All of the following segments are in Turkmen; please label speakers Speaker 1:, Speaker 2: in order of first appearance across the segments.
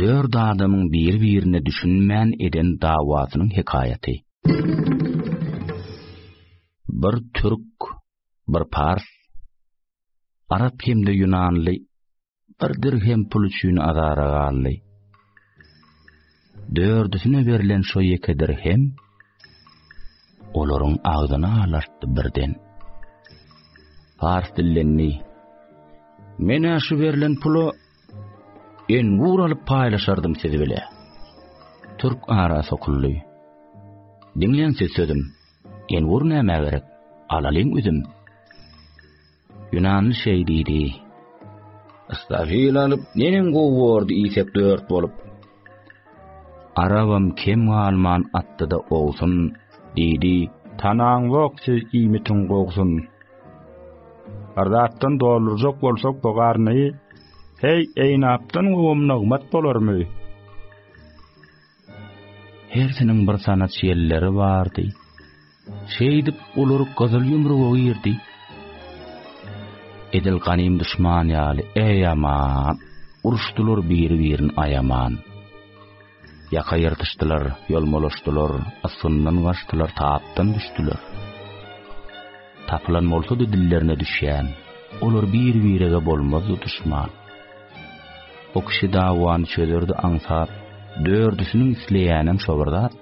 Speaker 1: Dört adamyň biri-birine düşünmän eden dawasynyň hekaýaty. Bir türk, bir pars, arap hem-de ýunanly bir dirhem pul üçin azara galdy. Dördüsine berlen şo ýeke dirhem olaryň agzyny alartdy birden. Pars dillendi. Menä şu berlen pula En gur alyp paýlaşardym siz bile. Türk ara sokuldy. Diňleň siz sözüm. En gur näme gerek? Alalyň üzüm. Ýunanly şeý diýdi. Istafil alyp, neneň gowy bordy iýsek dört bolup. Arabam kem galman atdyda owsun, diýdi. Tanaň bok siz iýmitiň gowsun. Bir zatdan doldurjak bolsak bu garny, heý, eýnapdan gowam nygmat bolarmy? Hersiniň bir sanat ýelleri bardy. Şeýdip, olar gyzyl ýumruga girdi. Edil ganym duşman ýaly, eý, aman! Uruşdylar biri-birini aýaman. Ýaka ýyrtyşdylar, ýolmalaşdylar, ysgyndan gaçdylar, tapdan düşdüler. Tapylan bolsady dillerine düşýän, olar bir-birege bolmazdy duşman. O kişi dawany çözerdi aňsat, dördüsiniň isleýänem şo bir zat.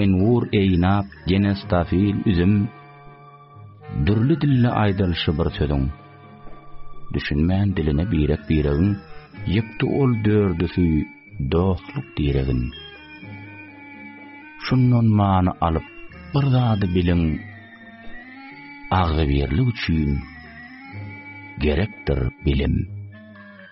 Speaker 1: Enwur eýnap genestafil üzüm Dürli dilli aýdylşy bir sözüň Düşünmän diline birek biregin Ýykdy ol dördüsi dostluk diregin Şundan many alyp bir zady biliň Agzybirlik üçin gerekdir bilim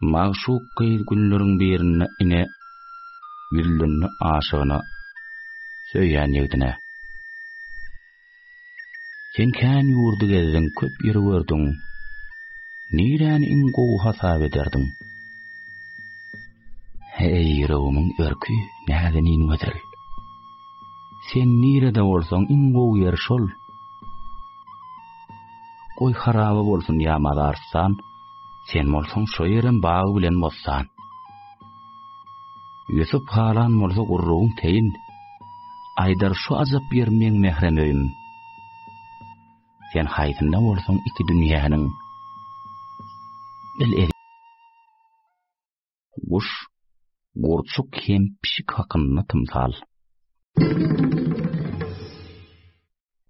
Speaker 1: Magşuk gyz günleriň birinde ine, ýüzlendi aşygyna, söýýän ýigdine. Sen kän ýurdy gezdiň, köp ýeri gördüň, niräni iň gowy hasap ederdiň? Eý, ýüregimiň erki, näzenin gözel! Sen nirede bolsaň, iň gowy ýer şol. Goý, haraba bolsun ýa mazaristan, Sen bolsaň şo ýerem bag bilen bossan. Ýusup halan bolsa gurrugyň teýin, Aýdar şu ajap ýer meň mährem öýüm. Sen haýsynda bolsaň iki dünýäniň, bil Guş, gurçuk hem pişik hakynda tymsal.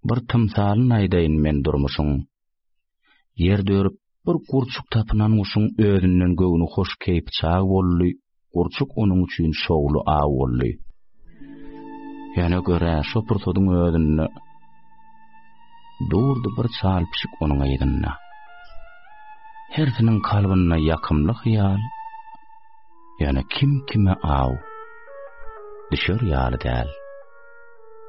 Speaker 1: Bir tymsalyn aýdaýyn men durmuşyň. Ýer dörüp bir gurçuk tapynan guşuň özünden göwni hoş keýp çag boldy, gurçuk onuň üçin şowly aw boldy. Ýöne görä şo pursadyň özünde durdy bir çal pişik onuň yzynda. Hersiniň kalbynda ýakymly hyýal, ýöne kim kime aw düşer ýaly däl.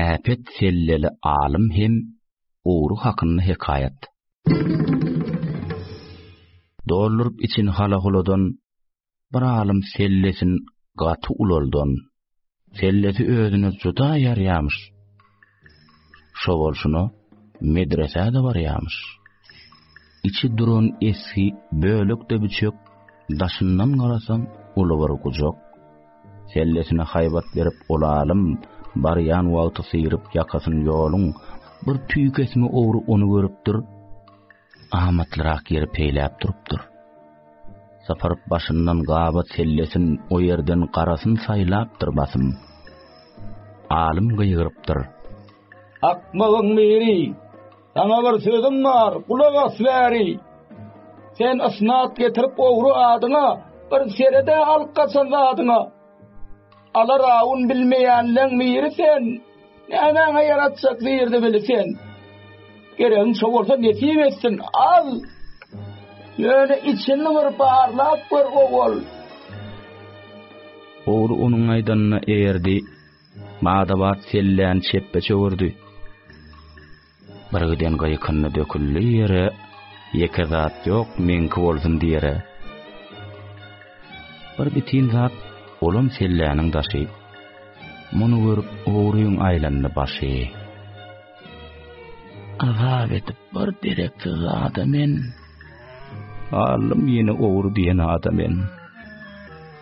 Speaker 1: Äpet selleli alym hem owru hakynda hekaýat. Dolluryp için halahuladan bir alym sellesini gaty ulaldan. Sellesi özüne juda ýarýamyş. Şo bolşuna medresä-de barýamyş. Içi duran esgi bölekde biçek, daşyndan garasaň uly bir gujak. Sellesine haýbat berip olalym, barýan wagty syryp ýakasyny ýoluň, bir tüýkesmi ogry ony görüpdir. Amatlyrak ýeri peýläp durupdyr. Sapar başyndan gabat sellesin o ýerden garasyn saýlapdyr basym. Alym gygyrypdyr.
Speaker 2: Akmagyň biri! Saňa bir sözüm bar, gulak as bäri! Sen ysnat getirip ogry adyňa, bir seret-ä alyp gaçan zadyňa! Ala rawun bilmeýänleň biri sen, Nämäňe ýaratjak zirdi bili sen. Geregiň şo bolsa nesip etsin, al! Ýöne içini bir barlap gör, owal!
Speaker 1: Ogry onuň aýdanyna eýerdi, bada-bat selläni çepbe çöwürdi. Birgiden gyýkyndy döküldi ýere, Ýeke zat ýok, meňki bolsun diýere. Bir bitin zat, olam selläniň daşy, Muny görüp, ogryň aýlandy başy. Azap edip bir dereksiz zada men, Aldym ýene ogry diýen ada men.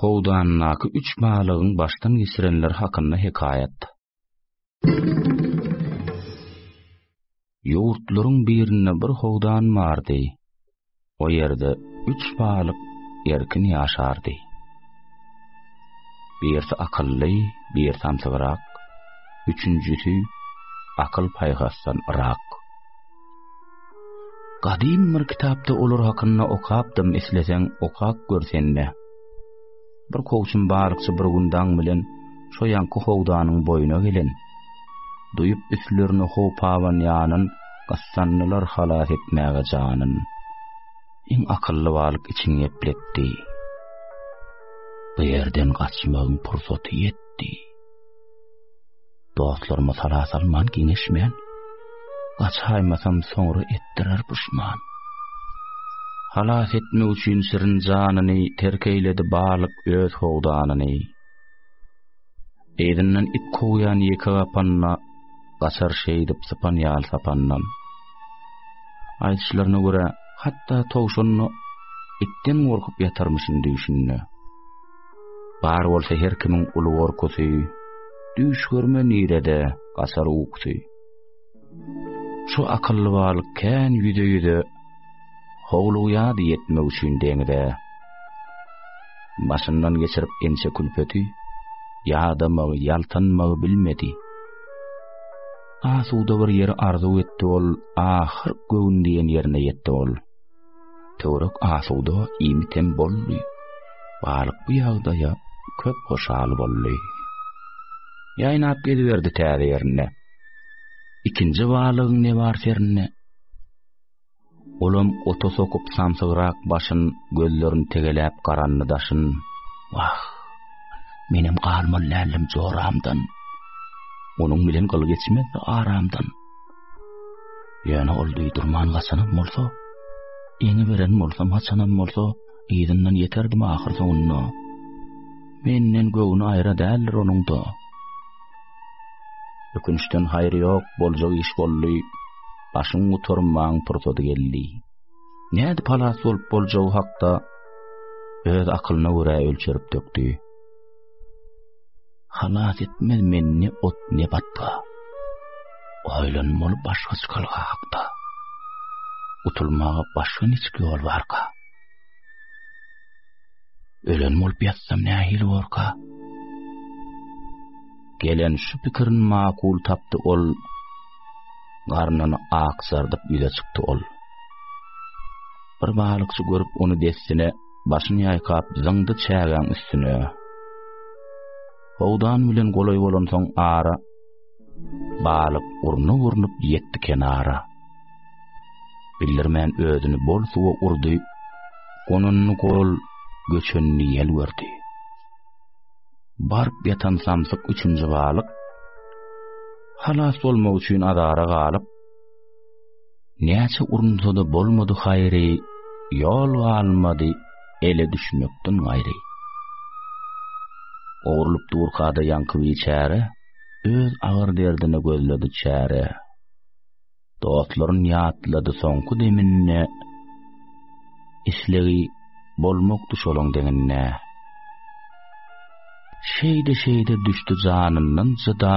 Speaker 1: Howdanyndaky üç balygyň başdan geçirenleri hakynda hekaýat. Ýurtlaryň birinde bir howdan bardy. O ýerde üç balyk erkin ýaşardy. Birisi akylly, birisi samsygrak, üçünjisi akyl paýhasdan yrak. Gadym bir kitapda olar hakynda okapdym, isleseň okap gör sende. Bir kowçum balykçy bir gün daň bilen şo ýanky howdanyň boýuna gelen. Duýup üstlerine hopawan ýanyn, gyssandylar halas etmäge janyn. Iň akylly balyk içini gepletdi. Bu ýerden gaçmagyň pursaty ýetdi. Dostlaryma sala salman giňeşmän, Gaçaýmasam soňra etdirer puşman. Halas etmek üçin şirin janyny, Terk eýledi balyk öz howdanyny. Yzyndan it kowýan ýeke gapanna, Gaçar şeýdip sypan ýal sapandan. Aýdyşlaryna görä, hatda towşanna Itden gorkup ýatarmyşyn düýşünde. Bar bolsa her kimiň uly gorkusy, Düýş görme nirede gaçar ukusy. Şu akylly balyk kän ýüze-ýüze, Howlugýardy ýetmek üçin deňze. Başyndan geçirip ençe külpeti, Ýadamagy, ýaltanmagy bilmedi. Asuda bir ýeri arzuw etdi ol, Ahyr göwün diýen ýerine ýetdi ol. Töwerek asuda, iýmit hem boldy. Balyk bu ýagdaýa köp hoşal boldy. Ýaýnap geziberdi täze ýerinde. Ikinji balygyň ne bar serinde? Olam ota sokup samsygrak başyn, gözlerini tegeläp garandy daşyn. Wah! Menem galmaly däldim joramdan. Onuň bilen gyl geçmezdi aramdan. Ýöne ol duýdurman gaçanam bolsa, ýeňi beren bolsa, maçanam bolsa, yzyndan ýeterdim ahyr soňunda. Menden göwni aýra däldir onuň-da. Ökünçden haýry ýok, boljak iş boldy. Başyň gutarmaň pursady geldi. Nädip halas bolup boljagy hakda öz akylyna görä ölçerip dökdi. Halas etmez meni ne ot ne batga. Oýlanmaly başga çykalga hakda. Gutulmaga başga niçik ýol barka? Ölen bolup ýatsam nähili borka? Gelen şu pikirin makul tapdy ol. Garnyny akjardyp ýüze çykdy ol. Bir balykçy görüp ony dessine Başyny ýaýkap, zyňdy çägäň üstüne. Howdan bilen golaý bolansoň ara, Balyk urnup-urnup ýetdi kenara. Bildirmän özüni bol suwa urdy, Gonanyny gol, göçenini ýel gördi. Baryp ýatan samsyk üçünji balyk, Halas bolmak üçin azara galyp, Näçe urunsa-da bolmady haýry, Ýol galmady ele düşmekden gaýry. Ogrulyp durka-da ýaňky biçäre, Öz agyr derdine gözledi çäre. Dostlaryn ýatlady soňky deminde, Islegi bolmakdy şolaň deňinde. Şeýde-şeýde düşdi janyndan jyda,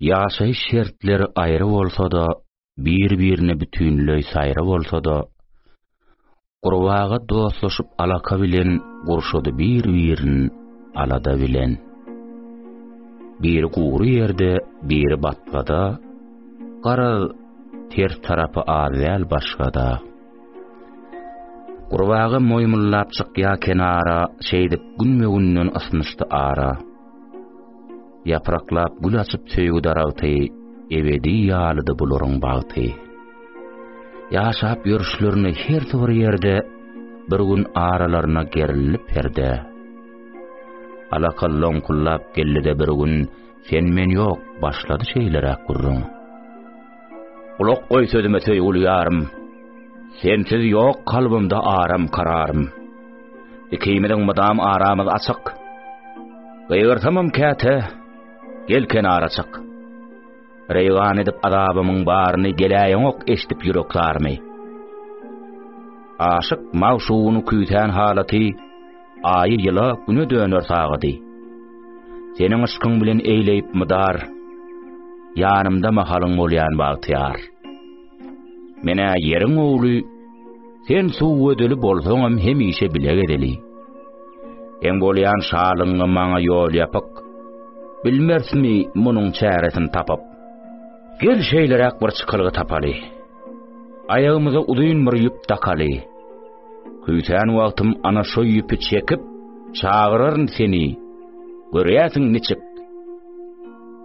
Speaker 1: Ýaşaýyş şertleri aýry bolsa-da, bir-birine bütinleý saýry bolsa-da, gurbaga dostlaşyp alaka bilen gurşady bir-birin alada bilen. Biri gury ýerde, biri batgada, garaz, ters tarapy az däl başgada. Gurbaga moýmullap çykýa kenara, Şeýdip günbe-günden ysnyşdy ara. Ýapraklap gül açyp söýgi daragty, Ebedi ýalydy bularyň bagty. Ýaşap ýörüşlerine hersi bir ýerde, Bir gün aralaryna gerildi perde. Alaka loňkullap geldi-de bir gün, Sen-men ýok, başlady şeýleräk gürrüň. Gulak goý sözüme söýgüli ýarym, Sensiz ýok kalbymda aram kararym. Ikimiziň mydam aramyz açyk, Gygyrsamam käte, gel kenara çyk. Reýgan edip azabymyň baryny Geläýeňok eşdip ýürek zarymy. Aşyk magşugyny küýsän halaty, Aýy ýyla güne döner sagady. Seniň yşkyň bilen eýleýip mydar, Ýanymda mahalyň bolýan bagtyýar. Men-ä ýeriň ogly, sen suw we döli bolsaňam hemişe bile gezeli. Seň bolýan şalygyňa maňa ýol ýapyk, Bilmersmi munuň çäresini tapyp? Gel şeýleräk bir çykalga tapaly, Aýagymyza uzyn bir ýüp dakaly. Küýsän wagtym ana şo ýüpi çekip, çagyraryn seni, görýärsiň niçik?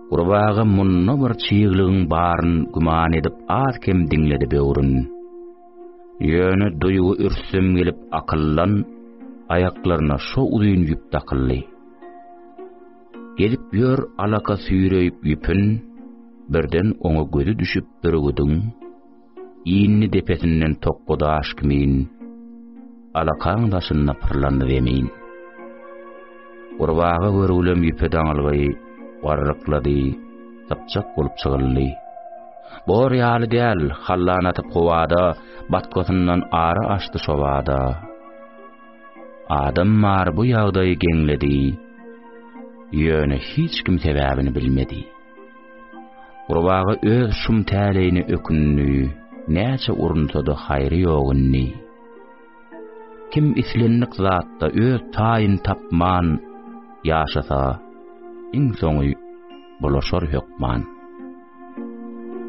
Speaker 1: Gurbaga munda bir çyglygyň baryn güman edip az-kem diňledi böwrün. Ýöne duýgy ürsüm gelip akyldan aýaklaryna şo uzyn ýüp dakyldy. Gelip ýör alaka süýreýip ýüpün, birden oňa gözi düşüp ürgüdiň, Indi depesinden tokga daş kimin, Alakaň daşynda pyrlandy zemin. Gurbaga görgülem ýüpe daňylgy, Garryklady, sypjak bolup çygyldy. Bor ýaly däl, hallan atyp howada, Batgasyndan ary aşdy şobada. Adam bar bu ýagdaýy geňledi, Ýöne hiç kim sebäbini bilmedi. Gurbaga öz şum täleýine ökündi, näçe urunsa-da haýry ýok indi. Kim islendik zatda öz taýyny tapman ýaşasa, iň soňy bulaşar hökman.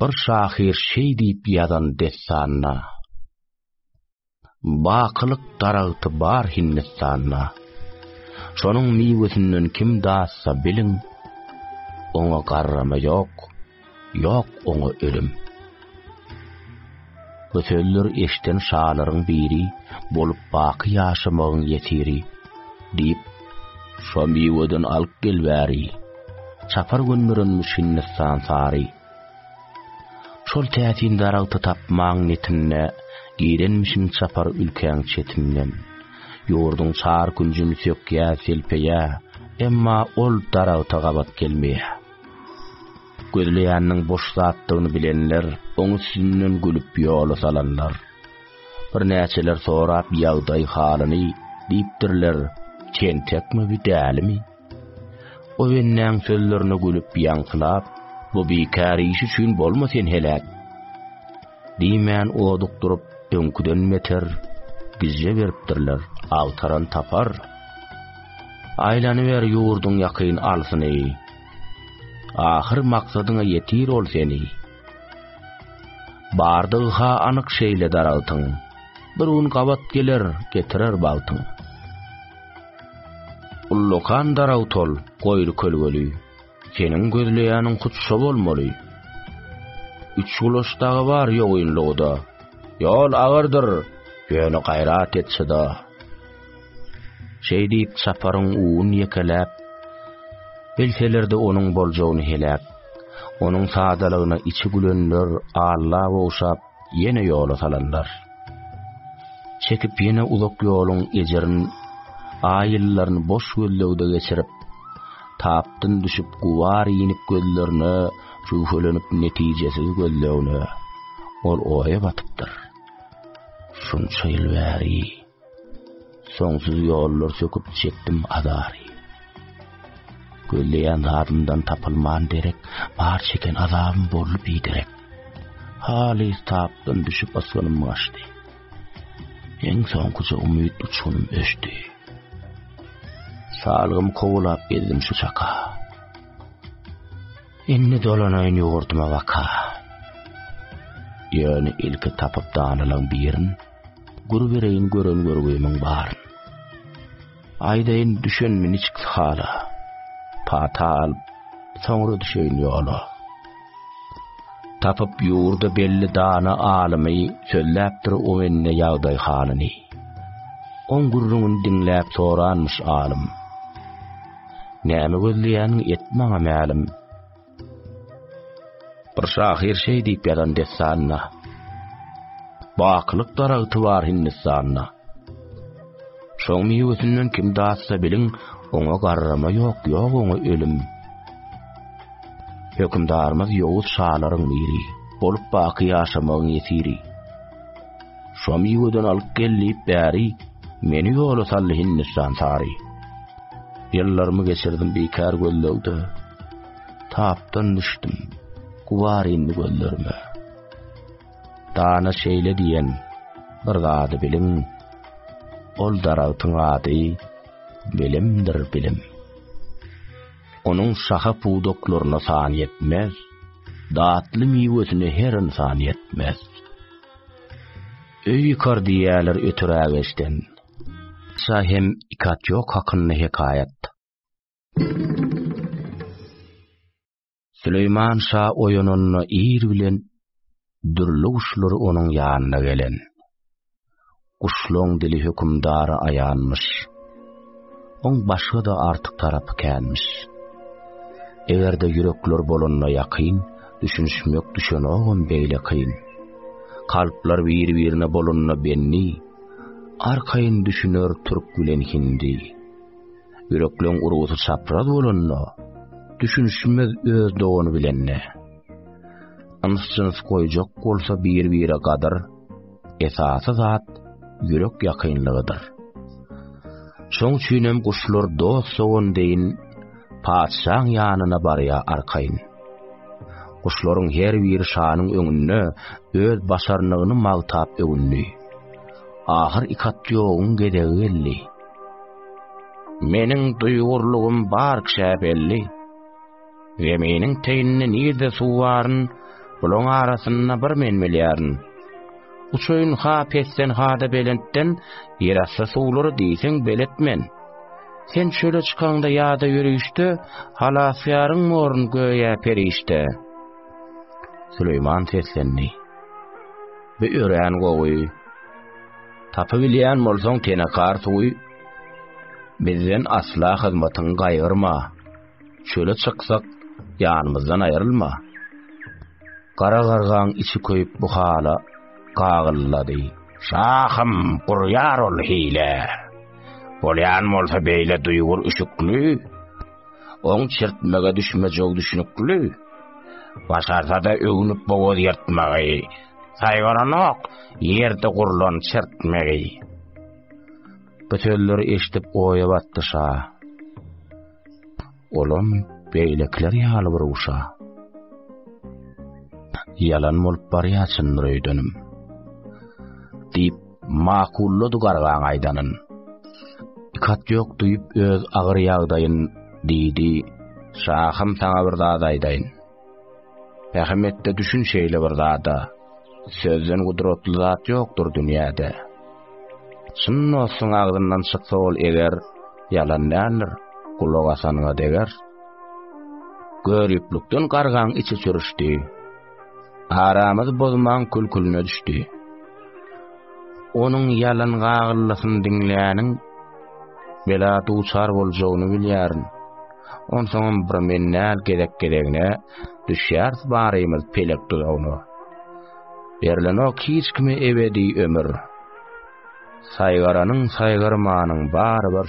Speaker 1: Bir şahyr şeý diýip ýazan dessanda, Bakylyk daragty bar Hindistanda. Şonuň miwesinden kim datsa biliň, Oňa garrama ýok, ýok oňa ölüm. Bu sözleri eşden şalaryň biri, Bolup baky ýaşamagyň ýesiri, diýip, Şo miweden alyp gel bäri, Çapar gönderenmiş Hindistan sary. Şol täsin daragty tapmaň netinde, Girenmişin çapar ülkäň çetinden. Ýurduň çar künjün sökýä-selpeýä, Emma ol daragta gabat gelmeýä. Gözleýäniniň boş zatdygyny bilenler oň üstünden gülüp ýola salanlar. Birnäçeler sorap ýagdaý-halyny, diýipdirler, Tentekmi bu, dälimi? O bennäň sözlerine gülüp ýaňsylap, Bu bikär iş üçin bolma sen heläk! Diýmän oduk durup, öňküden beter gijje beripdirler, agtaran tapar. Aýlanyber ýurduň ýakyn-alsyny. Ahyr maksadyňa ýetir ol seni. Bardygy ha anyk şeýle daragtyň, Bir gün gabat geler, getirer bagtyň. Ullakan daragt ol, goýry kölgeli, Seniň gözleýäniň hut şo bolmaly. Üç gulaç dagy bar ýogynlygy-da, Ýol agyrdyr, ýöne gaýrat et şyda. Şeý diýip, çaparyň uwun ýekeläp, bilseler-de onuň boljagyny heläp, onuň sadalygyna içi gülenler Allaha ogşap, ýene ýola salanlar. Çekip ýene uzak ýoluň ejirin, aý ýyllaryny boş gözlegde geçirip, tapdyn düşüp gubar iýnip gözlerine jüwhelenip netijesiz gözlegine, ol oýa batypdyr. Şunça ýyl bäri. Soňsuz ýollar söküp çekdim azary. Gözleýän zadymdan tapylman derek, bar çeken azabym boldy biderek. Haly tapdan düşüp asmanym gaçdy. Eň soňkuja umyt uçunym öçdi. Salgym kowlap gezdim şu çaka. Indi dolanaýyn ýurduma waka. Ýöne ilki tapyp danalan birin, Gür bereýin gören görgümiň bar. Aýdaýyn düşenmi niçik hala. Pata alyp, soňra düşeýin ýola. Tapyp ýurda belli dana alymy, sözläpdir o mende ýagdaý halyny. Oň gürrüňini diňläp soranmyş alym. Näme gözleýäniň et maňa mälim. Bir şahyr şeý diýip ýazan dessanda, Bakylyk daragty bar Hindistanda. Şoň miwesinden kim datsa biliň, oňa garrama ýok, ýok oňa ölüm. Hökümdarymyz ýowuz şalaryň biri, bolup baky ýaşamagyň ýesiri. Şo miweden alyp gel diýip bäri, meni ýola saldy Hindistan sary. Ýyllarymy geçirdim bikär gözlegde. Tapdan düşdüm, gubar indi gözlerime. Dana şeýle diýen, bir zady biliň, ol daragtyň ady bilimdir bilim. Onuň şaha pudaklaryna san ýetmez, datly miwesine her insan ýetmez. Öýkar diýerler ötürägeçden, Şa hem Ikatýok hakynda hekaýat. Süleýman şa oýananda ir bilen dürli guşlar onuň ýanyna gelen. Guşlaň dili hökümdara aýanmyş. Oň başga-da artyk tarapy känmiş. Eger-de ýürekler bolanda ýakyn, düşünişmek düşenogam beýle kyn. Kalplar bir-birine bolanda benni, Arkaýyn düşüner türk bilen hindi. Ýürekleň urgusy çapraz bolanda, düşünişmez öz dogany bilen-de. Yns-jyns goýjak bolsa bir-bire gadyr, esasy zat ýürek ýakynlygydyr. Şoň üçinem guşlar dost-dogan deýin, patyşaň ýanyna barýar arkaýyn. Guşlaryň her biri şanyň öňünde öz başarnygyny magtap öwündi. Ahyr Ikatýogyň gezegi geldi. Meniň duýgurlygym bar kişä belli. Zeminiň teýinde nirde suw baryn, bulaň arasynda bir men bilýärin. Uçaýyn ha pesden ha-da belentden, ýerasty suwlary diýseň beletmen. Sen çöle çykaňda ýa-da ýörişde, Halasgäriň borun göýä perişde. Süleýman seslendi. Bu örän gowy. Tapybilýän bolsaň tenekar suwy, bizden asla hyzmatyňy gaýgyrma. Çöle çyksak, ýanymyzdan aýrylma. Gara gargaň içi köýüp bu hala gagyllady. Şahym, gurýar ol hile. Bolýan bolsa beýle duýgur üşükli. Oň çirtmege düşmejegi düşnükli. Başarsa-da öwnüp bogaz ýyrtmagy. Saýgaranok ýerde gurlan çirtmegi. Bu sözleri eşidip oýa batdy şa. Olam beýlekiler ýaly bir uşa. Ýalan bolup barýaçyndyr öýdenim. Diýip, makullady gargaň aýdanyn. Ikat ýok duýup öz agyr ýagdaýyn diýdi. Şahym saňa bir zat aýdaýyn. Pähemetde düşün şeýle bir zada. Sözden gudratly zat ýokdur dünýäde. Çyn dostuň agzyndan çyksa ol eger, ýalan däldir, gulak asanyňa deger. Göriplikden gargaň içi çürüşdi. Aramyzy bozmaň külkülüne düşdi. Onuň ýalan gagyllysyny diňläniň, bela duçar boljagyny bilýärin. Onsoňam bir men näl gezek-gezegine düşýäris barymyz pelek duzagyna. Berlenok hiç kime ebedi ömür. Saýgaranyň, saýgarmanyň bary bir.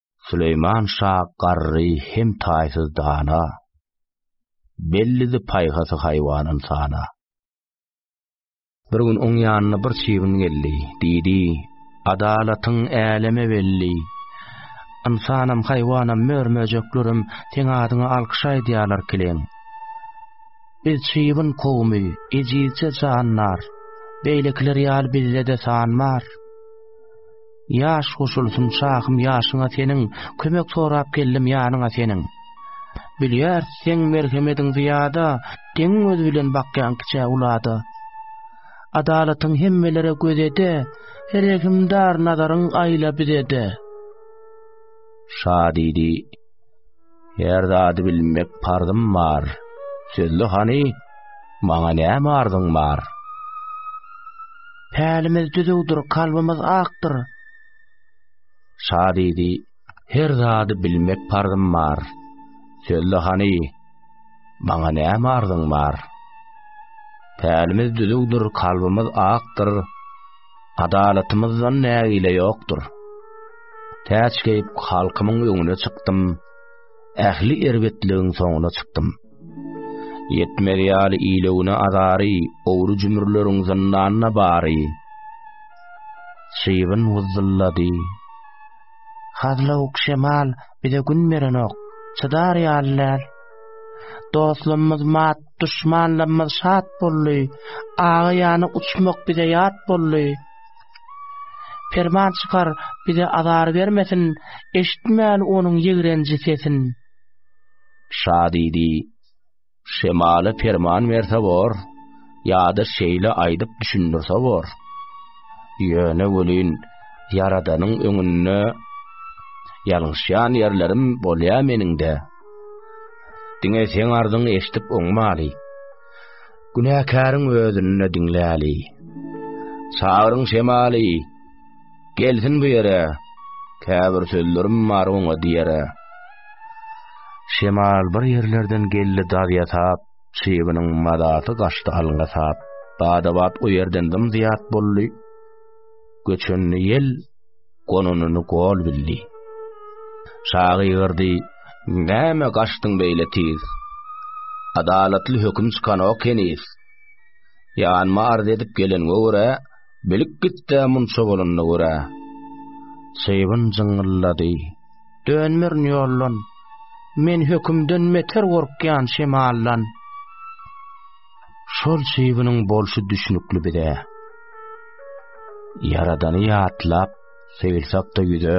Speaker 1: Süleýman şa garry hem taýsyz dana, Bellidi paýhasy haýwanyn sana. Bir gün oň ýanyna bir çybyn geldi, Diýdi, Adalatyň äleme belli. Ynsanam, haýwanam, mör-möjeklerem Seň adyňa alkyş aýdýarlar kiliň. Biz çybyn kowumy, ejizje jandar, Beýlekiler ýaly bizde-de san bar. Ýaş goşulsyn şahym ýaşyňa seniň, Kömek sorap geldim ýanyňa seniň. Bilýäris seň merhemediň zyýada, Deňiň gözi bilen bakýaň kiçä ulada. Adalatyň hemmelere göz ede, Rehimdar nazaryň aýla bize-de. Şa diýdi. Her zady bilmek parzym bar. Sözle hany, maňa näme arzyň bar? Pälimiz düzüwdir, kalbymyz akdyr. Şa diýdi, Her zady bilmek parzym bar. Sözle hany, maňa näme arzyň bar? Pälimiz düzüwdir, kalbymyz akdyr. Adalatymyzdan nägile ýokdur. Täç geýip, halkymyň öňüne çykdym, ähli erbetligiň soňuna çykdym. Ýetmez ýaly ilewine azary, ogry jümürleriň zyndanyna bary. Şybyn wyzzyldady. Hazlawuk şemal bize gün berenok, çydar ýaly däl. Dostlugymyz mat Duşmanlarymyz şat boldy. Aga ýana uçmak bize ýat boldy. Perman çykar, bize azar bermesin, Eşitmäli onuň ýigrenji sesin. Şa diýdi, Şemala perman berse bor, Ýa-da şeýle aýdyp düşündirse bor. Ýöne welin, Ýaradanyň öňünde Ýalňyşýan ýerlerim bolýa meniň-de. Diňe seň arzyňy eşdip oňmaly. Günäkäriň özünde diňläli. Çagyryň şemaly. Gelsin bu ýere. Käbir sözlerim bar oňa diýere. Şemal bir ýerlerden geldi daz ýasap, çybynyň mazasy gaçdy alňa sap. Bada-bat o ýerden dym-zyýat boldy. Göçen ýel gonanyny gol bildi. Şa gygyrdy, Näme gaçdyň beýle tiz? Adalatly höküm çykanok heniz. Ýanyma arz edip geleniňe görä, bilip git-de munça bolanyna görä. Çybyn jyňňyllady, Dönmerin ýoldan, men hökümden meter gorkýan şemaldan. Şol çybynyň bolşy düşnükli bize. Ýaradany ýatlap, seýilsakda ýüze,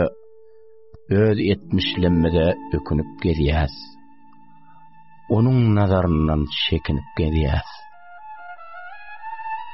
Speaker 1: öz etmişlimize ökünip gezýäs. Onuň nazaryndan çekinip gezýäs.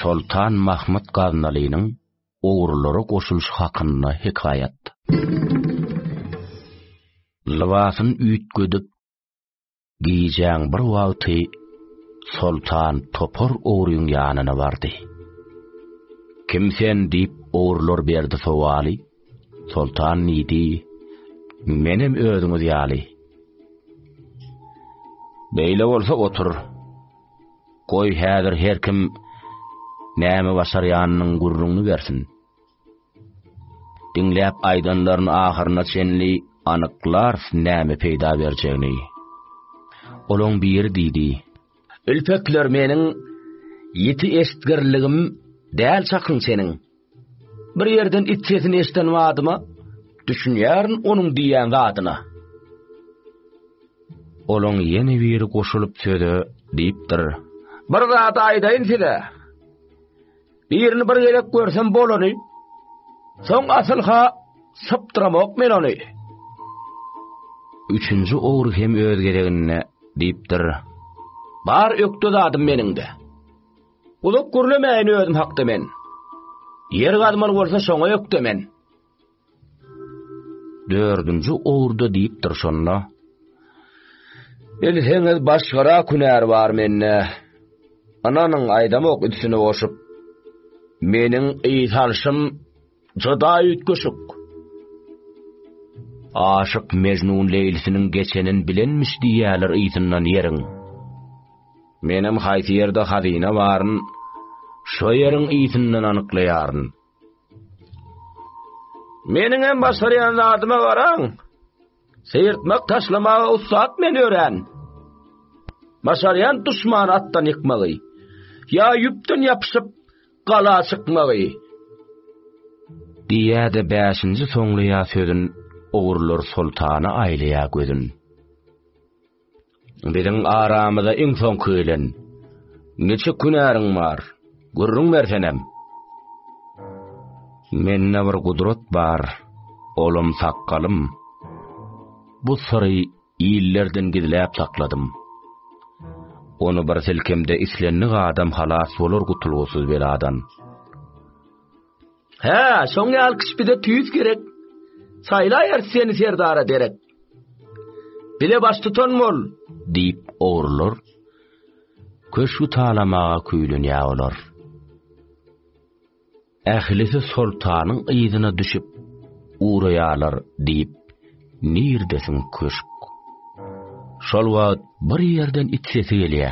Speaker 1: Soltan Mahmud Gaznalynyň ogrulara goşulyşy hakynda hekaýat. Lybasyn üýtgedip, Gijäň bir wagty Soltan topar ogryň ýanyna bardy. Kim sen diýip ogrular berdi sowaly. Soltan diýdi, Menem özüňiz ýaly. Beýle bolsa otur. Goý häzir her kim näme başarýanynyň gürrüňini bersin. Diňläp aýdanlaryny ahyryna çenli anyklarys näme peýda berjegini. Olaň biri diýdi. Ülpekler meniň ýiti eşitgirligim däl çakyň seniň. Bir ýerden it sesini eşden badyma düşünýärin onuň diýýän zadyna. Olaň ýene biri goşulyp söze diýipdir. Bir zat aýdaýyn size. Birini bir gezek görsem bolany, soň asylha sypdyramok men ony. Üçünji ogry hem öz gezeginde diýipdir. Bar ökde zadym meniňde. Gulak gürlemäýin özüm hakda men. Ýer gazmaly bolsa şoňa ökde men. Dördünji owurda diýipdir şonda. Bilseňiz başgara künär bar mende. Ananyň aýdamok üstüne goşup. Meniň ýyt alşym juda üýtgeşik. Aşyk Mejnun Leýlisiniň geçenin bilenmiş diýýäler ýytyndan ýeriň. Menem haýsy ýerde hazyna baryn, şo ýeriň ýytyndan anyklaýaryn. Meniň hem başarýan zadyma garaň. Seýrtmek taşlamaga ussat men örän. Başarýan duşman atdan ýykmagy. Ýa ýüpden ýapyşyp gala çykmagy. Diýýä-de bäşinji soňlaýa sözün, Ogurlar soltana aýlaýa gözün. Biziň aramyza iň soňky gelen. Niçik hünäriň bar? Gürrüň bersenem. Mende bir gudrat bar, olam sakgalym. Bu syry illerden gizläp sakladym. Ony bir silkemde islendik adam halas bolar gutulgysyz beladan. Hä, şoň ýaly kişi bize tüýs gerek. Saýlaýar seni serdara derek. Bile baş tutan bol, diýip ogrular. Köşgü talamaga küýlenýä olar. Ählisi soltanyň yzyna düşüp uraýarlar diýip, nirdesiň köşk. Şol wagt bir ýerden it sesi gelýä.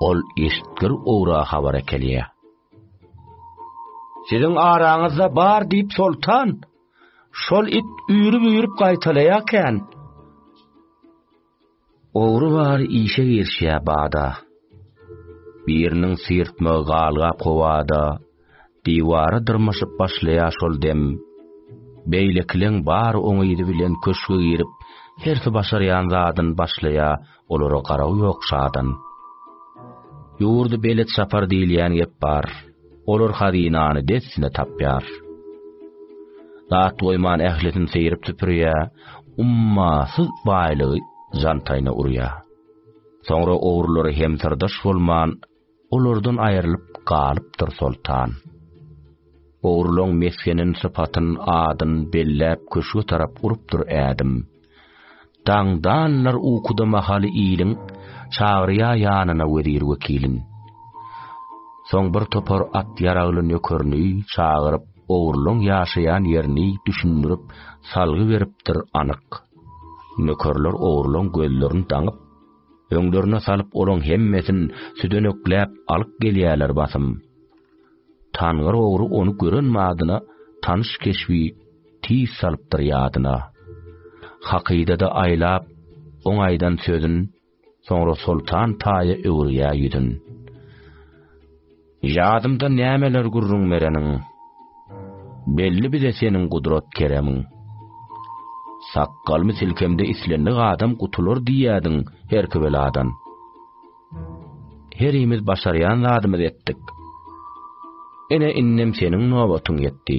Speaker 1: Ol eşitgir owra habar ekelýä. Siziň araňyzda bar diýip soltan şol it üýrüp-üýrüp gaýtalaýarkän, ogry bary işe girişýär bada. Biriniň syrtmagy galgap howada, diwara dyrmaşyp başlaýar şol dem. Beýlekileň bary oň yzy bilen köşge girip, hersi başarýan zadyny başlaýar Olara garaw ýok şadan. Ýurdy belet şapar diýilýän gep bar. Olar hazynany dessine tapýar. Zat goýman ählisini seýrip süpürýär, ummasyz baýlygy jantaýna urýar. Soňra ogrulary hem syrdaş bolman Olardan aýrylyp galypdyr soltan. Ogrulan mesgenin sypatyn, adyn belläp köşge tarap urupdyr ädim. Daňdanlar ukuda mahaly iliň, çagyrýa ýanyna wezir-wekilin. Soň bir topar at ýaragly nökerini çagyryp, ogrulan ýaşaýan ýerini düşündirip, salgy beripdir anyk. Nökerler ogrulan gözlerini daňyp. Öňlerine salyp olaň hemmesin südenekläp alyp gelýärler basym. Tangyr ogry ony gören madyna tanyş keşbi tiz salypdyr ýadyna. Hakydada aýlap oň aýdan sözün, soňra Soltan taýa öwürýär ýüzün. Ýadymda nämeler gürrüň bereniň, Belli bize seniň gudrat-keremiň. Sakgalymy silkemde islendik adam gutular diýýädiň herki beladan. Herimiz başarýan zadymyzy etdik. Ene-innem seniň nobatyň ýetdi.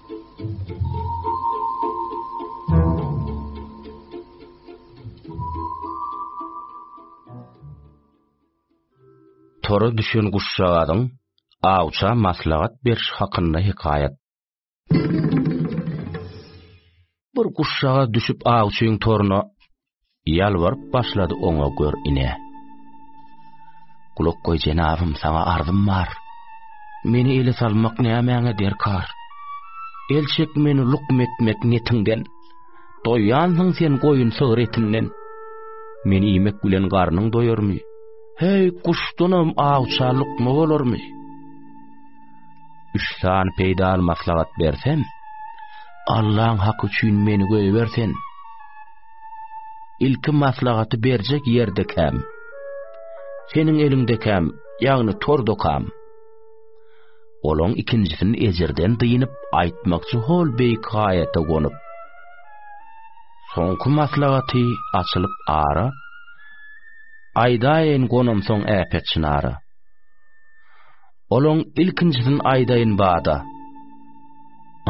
Speaker 1: Tora düşen guşjagazyň awça maslahat beriş hakynda hekaýat. Bir guşjaga düşüp awçyň toruna Ýalbaryp başlady oňa gör ine. Gulak goý jenabym saňa arzym bar. Meni ele salmak nämäňe derkar? El çek meni lukm etmek netiňden. Doýýansyň sen goýun sygyr etinden. Meni iýmek bilen garnyň doýarmy? Heý, guşdanam awça lukma bolarmy? Üç san peýdaly maslahat bersem, Allaň haky üçin meni goýbersen. Ilki maslahaty berjek ýerde käm. Seniň eliňde käm, ýagny tor dokam. Olaň ikinjisini ejirden dynyp aýtmakçy hol beýik haýata gonup. Soňky maslahaty açylyp ara. Aýdaýyn gonamsoň äpet çynara. Olaň ilkinjisini aýdaýyn bada.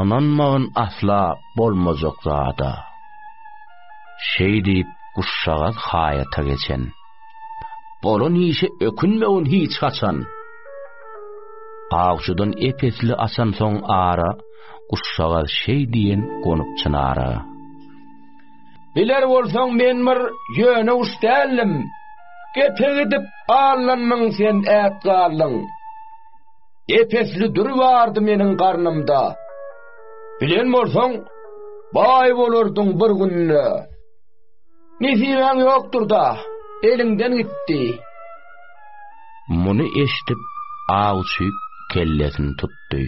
Speaker 1: Ynanmagyn asla bolmajak zada. Şeý diýip guşjagaz haýata geçen. Bolan işe ökünmegin hiç haçan. Awçydan ep-esli asansoň ara, guşjagaz şeý diýen gonup çynara.
Speaker 2: Biler bolsaň men bir ýöne guş däldim. Gepe gidip alnanmyň sen ät galdyň. Epesli dür bardy meniň garnymda. Bilen bolsaň baý bolardyň bir günde. Nesibaň ýokdur da, eliňden gitdi.
Speaker 1: Muny eşdip awçy kellesini tutdy.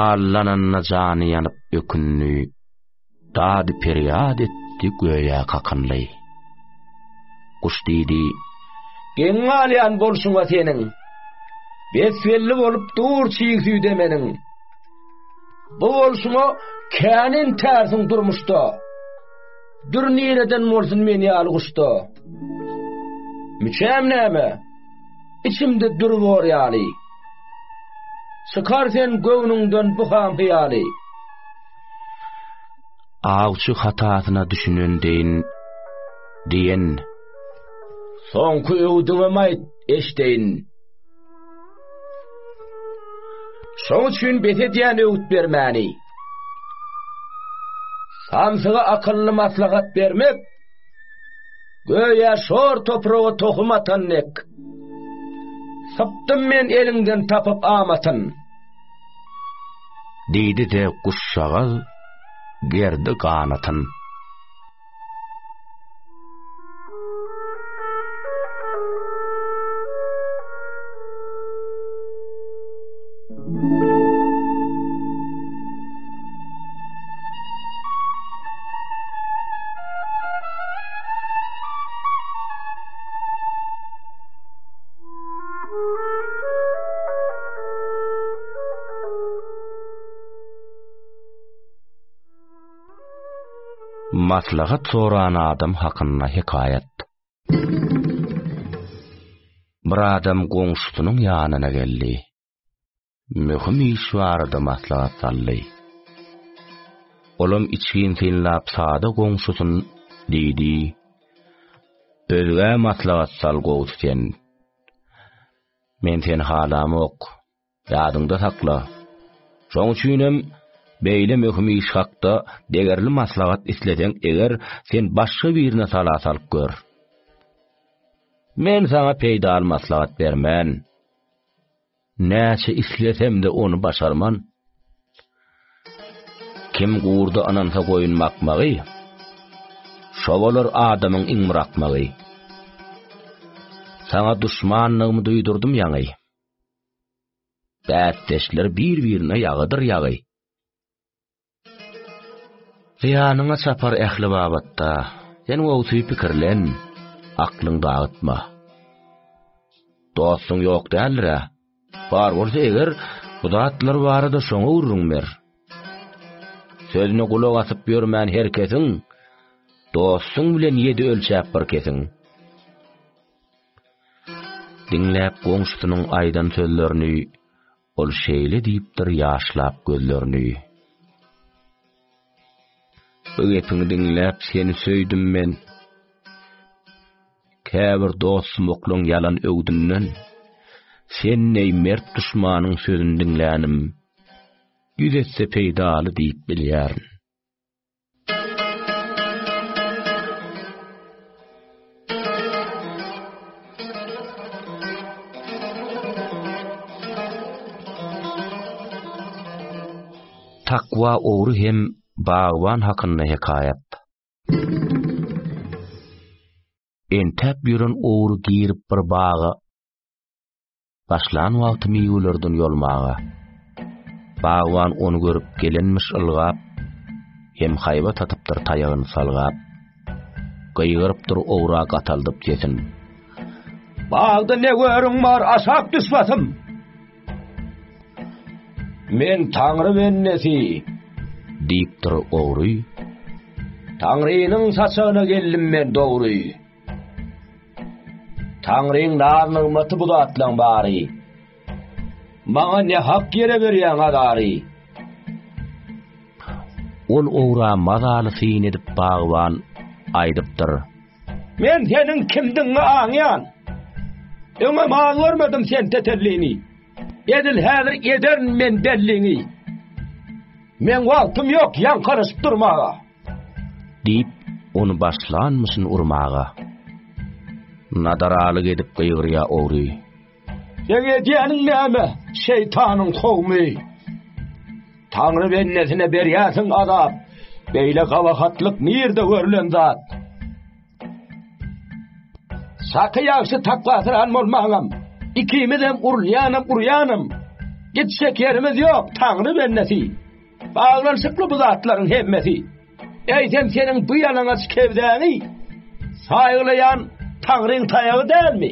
Speaker 1: Alnananda jany ýanyp ökündi. Dady-perýat etdi göýä kakynly. Guş diýdi. Geň galýan bolşuň-a seniň. Besbelli bolup dur çig süýde meniň. Bu bolşuňa kän intärsiň durmuşda. Dür nireden bolsun men ýaly guşda. Müçäm näme? Içimde dür bor ýaly. Çykar sen göwnüňden bu ham-hyýaly. Awçy hatasyna düşünen deýin, diýen.
Speaker 2: Soňky öwdüňem aýt, eşdeýin. Şoň üçin bes edýän öwüt bermäni. Samsyga akylly maslahat bermek Göýä şor topraga tohum atan dek. Sypdym men eliňden tapyp amatyn.
Speaker 1: Diýdi de guşşagaz gerdi ganatyn. Maslahat soran adam hakynda hekaýat. Bir adam goňşusynyň ýanyna geldi. möhüm iş barada maslahat saldy. Olam içgin synlap sada goňşusyn diýdi, Özgä maslahat sal gowusy sen. Men seni halamok, ýadyňda sakla. Şoň üçinem beýle möhüm iş hakda degerli maslahat isleseň eger, sen başga birine sala salyp gör. Men saňa peýdaly maslahat bermen. Näçe islesemde ony başarman. Kim gurda anansa goýun bakmagy, Şo bolar adamyň iň bir akmagy. Saňa duşmanlygymy duýdurdym ýaňy, Bäsdeşler bir-birine ýagydyr ýagy. Zyýanyňa çapar ähli babatda, Sen wagty pikirlen, aklyň dagtma. Dostuň ýok däldir-ä? Bar bolsa eger, Bu zatlar barada şoňa gürrüň ber. Sözüne gulak asyp ýörmän her kesiň, Dostuň bilen ýedi ölçäp bir kesiň. Diňläp goňşusynyň aýdan sözlerini, Ol şeýle diýipdir ýaşlap gözlerini. Bu gepiňi diňläp seni söýdüm men. Käbir dostum oklaň ýalan öwdünden. Sen neý mert duşmanyň sözüni diňlänim. Ýüz etse peýdaly diýip bilýärin. Takwa ogry hem bagban hakynda hekaýat. Entäp ýören ogry girip bir baga. Başlan wagty miwelerden ýolmaga. Bagban ony görüp gelenmiş ylgap, Hem haýbat atypdyr taýagyny salgap. Gygyrypdyr owra gataldyp sesin. Bagda ne görüň bar aşak düş basym. Men taňry bendesi. Diýipdir ogry. Taňrynyň saçagyna geldim men dogry. Taňryň naz-nygmaty bu zatlaň bary. Maňa ne hak ýere berýäň azary? Ol ogra mazaly syn edip bagban aýdypdyr. Men seniň kimdigiňi aňýan. Öňem az görmedim sen tetellini. Edil häzir ederin men belliňi. Meň wagtym ýok ýaňkaryşyp durmaga. Diýip, ony başlanmyşyn urmaga. Nadaralyk edip gygyrýa ogry. Seň edýäniň näme, şeýtanyň kowumy? Taňry bendesine berýärsiň azap. Beýle gabahatlyk nirde görlen zat? Şaky ýagşy takwasyran bolmagam. Ikimizem urulýanam urýanam. Gitjek ýerimiz ýok, Taňry bendesi. Baglanyşykly bu zatlaryň hemmesi. Eýsem seniň bu ýalaňaç kewzäňi saýgalaýan Taňryň taýagy dälmi?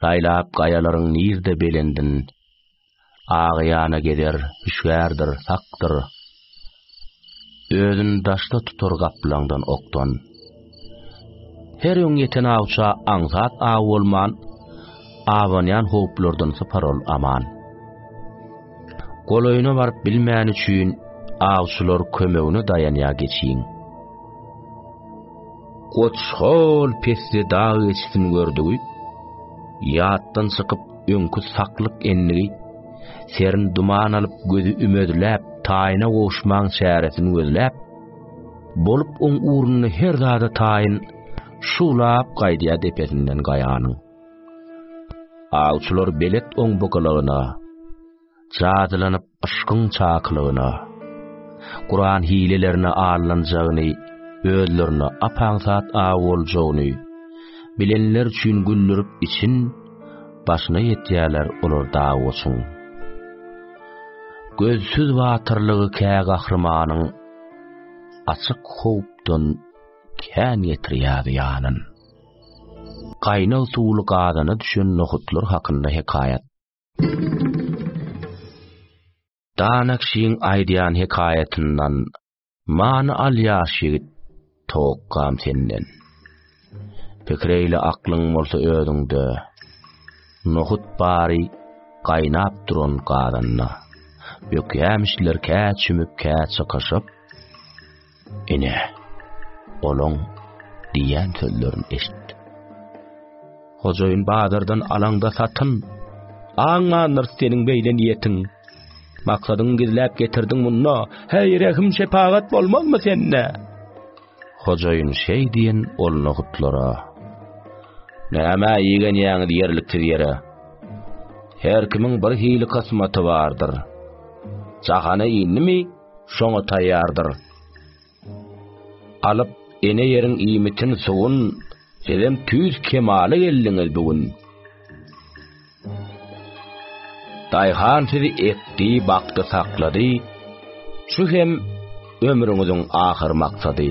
Speaker 1: Saýlap gaýalaryň nirde belendin, Agýana gezer, hüşgärdir, sakdyr. Özün daşda tutar gaplaňdan okdan. Her öň ýeten awça aňsat aw bolman, Abanýan howplardan sypar ol aman. Golaýyna baryp bilmän üçin, Awçylar kömegine daýanýa geçiň. Goç hol pesde dag geçisini gördügi, ýatdan çykyp öňki saklyk endigi, serin duman alyp gözi ümedläp taýyna gowuşmaň çäresini gözläp, bolup oň ugrunda her zada taýyn şuwlap gaýdýar depesinden gaýanyň. Awçylar belet oň bukalagyna, Jadylanyp yşkyň çakylygyna, Kuran hilelerine allanjagyny, özlerine ap-aňsat aw boljagyny bilenler üçin güldürip için başyna ýetýärler olar dawoçyň. Gözsüz batyrlygy kä gahrymanyň açyk howpdan kän getirýär ýanyn. Gaýnag suwly gazana düşen nohutlar hakynda hekaýat. Danakşyň aýdýan hekaýatyndan many al ýaş ýigit, towakgam senden. Pikreýle aklyň bolsa özüňde. Nohut bary gaýnap duran gazanda. Bökýämişler kä çümüp, kä çykyşyp. Ine, olaň diýýän sözlerini eşit. Hojaýyn bazardan alaňda satyn. Aňmandyr seniň beýle niýetiň. Maksadyň gizläp getirdiň munda. Heý, rehim şepagat bolmazmy sende? Hojaýyn şeý diýen ol nohutlara. Näme ýegen ýaňyz ýerliksiz ýere? Her kimiň bir hili kysmaty bardyr. Jahana indimi? Şoňa taýýardyr. Alyp, ene ýeriň iýmitin suwun, sizem tüýs kemala geldiňiz bu gün. Daýhan sizi ekdi, bakdy, saklady, şu hem ömrüňiziň ahyr maksady.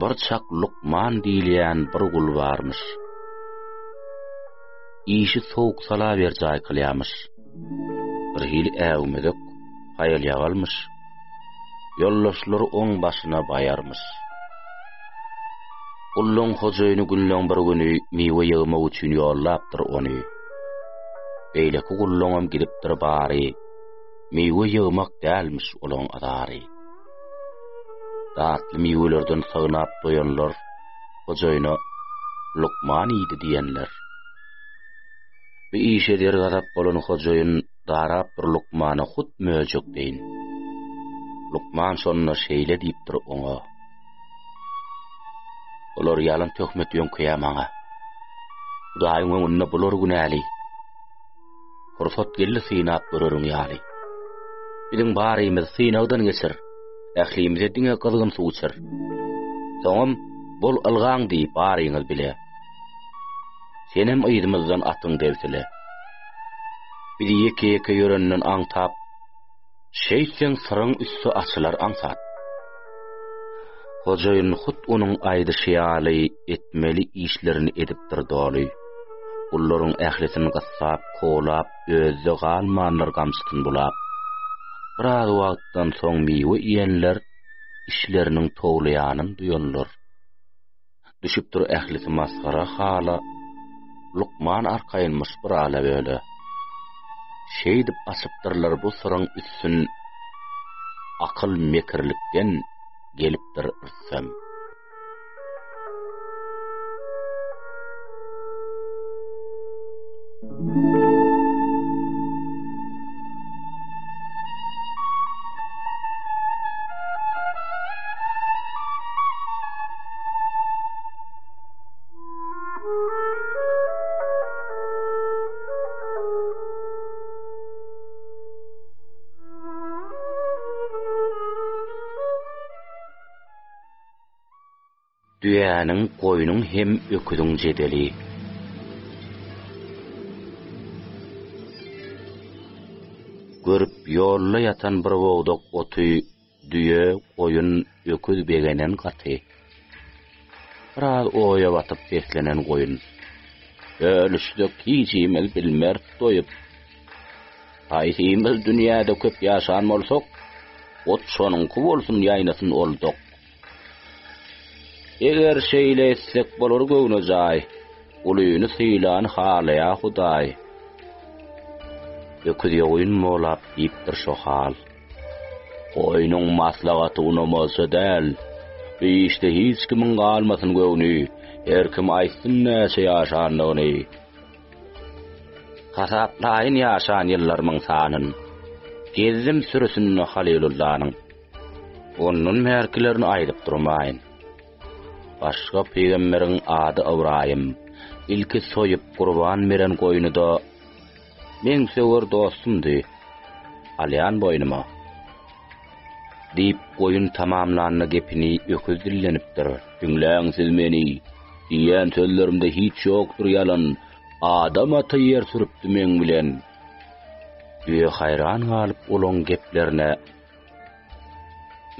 Speaker 1: Bir çak lukman diýilýän bir gul barmyş. Işi sowuk sala berjaý kylýamyş. Birhili äwmezek, haýal-ýagalmyş. Ýoldaşlary oň başyna baýarmyş. Gulluň hojaýyny günleň bir güni miwe ýygmak üçin ýollapdyr ony. Beýleki gulluňam gidipdir bary, miwe ýygmak dälmiş olaň azary. Datly miwelerden synap doýanlar hojaýyna lukman iýdi diýenler. Bu işe dergazap bolan hojaýyn darap bir lukmana hut möjek deýin. Lukman şonda şeýle diýipdir oňa. Olar ýalan töhmet ýöňkeýä maňa. Hudaýyň öňünde bular günäli. Pursat geldi synap göreriň ýaly. Biziň barymyz synagdan geçer. Ählimize diňe gyzgyn suw içer. Soňam bol ylgaň diý baryňyz bile. Senem yzymyzdan atyň debsile. Bizi ýeke-ýeke ýörenden aňtap, Şeýtseň syryň üsti açylar aňsat. Hojaýyn hut onuň aýdyşy ýaly etmeli işlerini edipdir doly. Gullaryň ählisini gyssap, kowlap, özde galmandyr gamçysyny bulap. Biraz wagtdan soň miwe iýenler işleriniň towlaýanyn duýanlar. Düşüpdir ählisi masgara hala, Lukman arkaýynmyş bir ala-böle. Şeýdip açypdyrlar bu syryň üstün, Akyl mekirlikden gelipdir ürsem. düýäniň, goýnuň hem öküziň jedeli. Görüp ýolda ýatan bir bogdak oty Düýe, goýun, öküz begenen gaty. Biraz oýa batyp beslenen goýun. Bölüşsek hiçimiz bilmeris doýup. Haýsymyz dünýäde köp ýaşan bolsak, ot şonuňky bolsun ýaýnasyn ol dok. Eger şeýle etsek bolar göwnejaý, ulyny sylan halaýa Hudaý. Öküz ýa goýun bolap diýipdir şo hal. Goýnuň maslahaty unamalsa däl. Bu işde hiç kimiň galmasyn göwni, her kim aýtsyn näçe ýaşandygyny. Hasaplaýyn ýaşan ýyllarymyň sanyn. Gezdim sürüsinde Halylullanyň. Ondan bärkilerini aýdyp durmaýyn. Başga pygamberiň ady Ybraýym. Ilki soýup gurban beren goýnuda. Meň söwer dostumdy. Alýan boýnuma. Diýip, goýun tamamlanda gepini öküz dillenipdir. Diňläň siz meni! Diýen sözlerimde hiç ýokdur ýalan. Adam aty ýer sürüpdi meň bilen. Düýe haýran galyp olaň geplerine,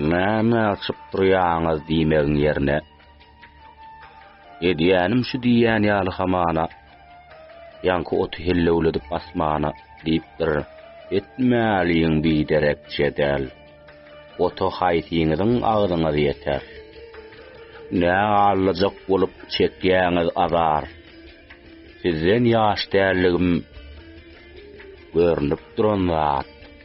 Speaker 1: Näme asyp durýaňyz diýmegiň ýerine, Edýänim şu diýýän ýaly hamana, Ýaňky oty hellewledip asmana, Diýipdir, Etmäliň biderek jedel, Ota haýsyňyzyň agzyňyz ýeter? Nä allajak bolup çekýäňiz azar? Sizden ýaş däldigim görnüp duran zat.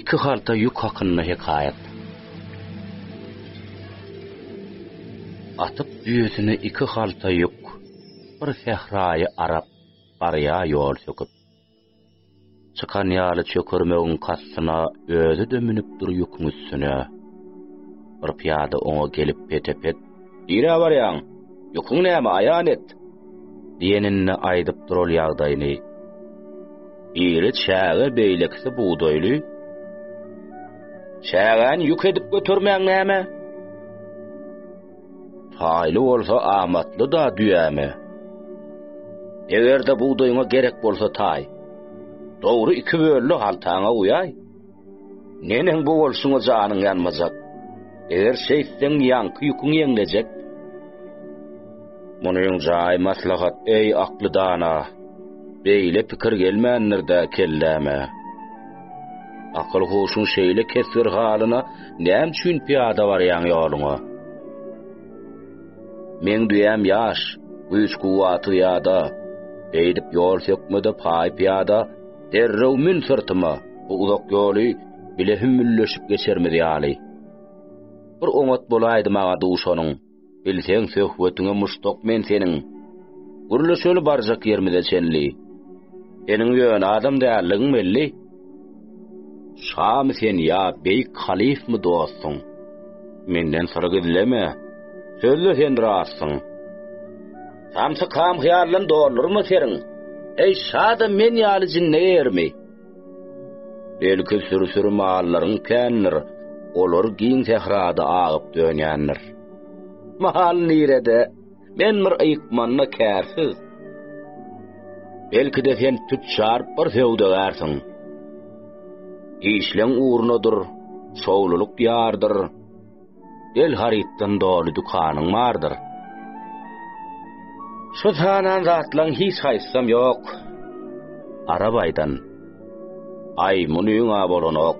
Speaker 1: Iki halta ýük hakynda hekaýat. Atyp düýesini iki halta ýük, Bir sähraýy arap, barýa ýol söküp. Çykan ýaly çökermegiň kastyna Özi-de münüpdir ýüküň üstüne. Bir pyýada oňa gelip pete-pet, Nirä barýaň? Ýüküň näme, aýan et? diýeninde aýdyp dural ýagdaýyny. Biri çäge, beýlekisi bugdaýly. Çägäni ýük edip götermäň näme? Taýly bolsa amatly-da düýäme. Eger-de bugdaýyňa gerek bolsa taý, dogry iki bölde haltaňa guýaý. Neneň bu bolşuňa janyň ýanmajak. Eger şeýtseň ýaňky ýüküň ýeňlejek. Munyň jaý maslahat eý akly dana. Beýle pikir gelmändir-dä kelläme. Akyl huşuň şeýle kesgir halyna näme üçin pyýada barýaň ýoluňa. Meň düýäm ýaş, güýç-kuwwaty ýada. Beýdip ýol sökmede paý pyýada. Derrew mün syrtyma, bu uzak ýoly bile hümmülleşip geçermiz ýaly. Bir oňat bolaýdy maňa duşanyň, bilseň söhbetiňe muşdak men seniň. Gürleşeli barjak ýermize çenli. Seniň ýöne adam dälligiň belli. Şamy sen ýa beýik halyfmy dostuň? Menden syr gizleme, sözde sen rastsyň. Hamsy kam hyýaldan doldurma seriň. Eý, şada men ýaly jinne ýermi? Belki sürü-sürü mallaryň kändir, olar giň sährada agyp dönýändir. Mahal nirede? Men bir ykmanda kärsiz. Belki-de sen tüçjar bir söwdagärsiň. Işleň ugruna dur, şowlulyk ýardyr. El harytdan doly dükanyň bardyr. Şu sanan zatlaň hiç haýsam ýok. Arabaýdan. Aý, muny öňa bolanok.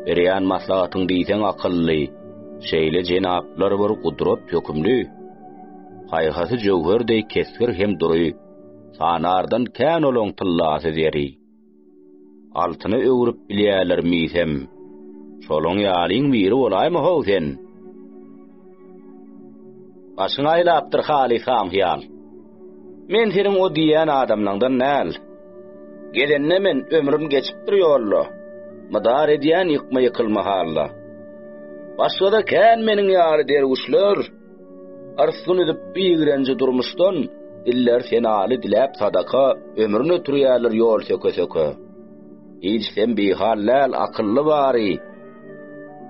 Speaker 1: Berýän maslahatyň diýseň akylly. Şeýle jenaplar bir gudrat hökümli. Haýhasy jöwher deý kesgir hem dury. Sanardan kän olaň tyllasy zeri. Altyna öwrüp bilýärler miýsem. Şolaň ýalyň biri bolaýma-how sen? Başyňy aýlapdyr haly sam-hyýal. Men seniň o diýýän adamlaňdan däl. Gelende men ömrüm geçipdir ýolda. Mydar edýän ýykma-ýykylma halda. Başgada kän meniň ýaly derwüşler. Yrsdyn edip bigrenji durmuşdan, Diller senaly diläp sadaka, Ömrün ötürýärler ýol söke-söke. Hiç sen bihal däl, akylly bary,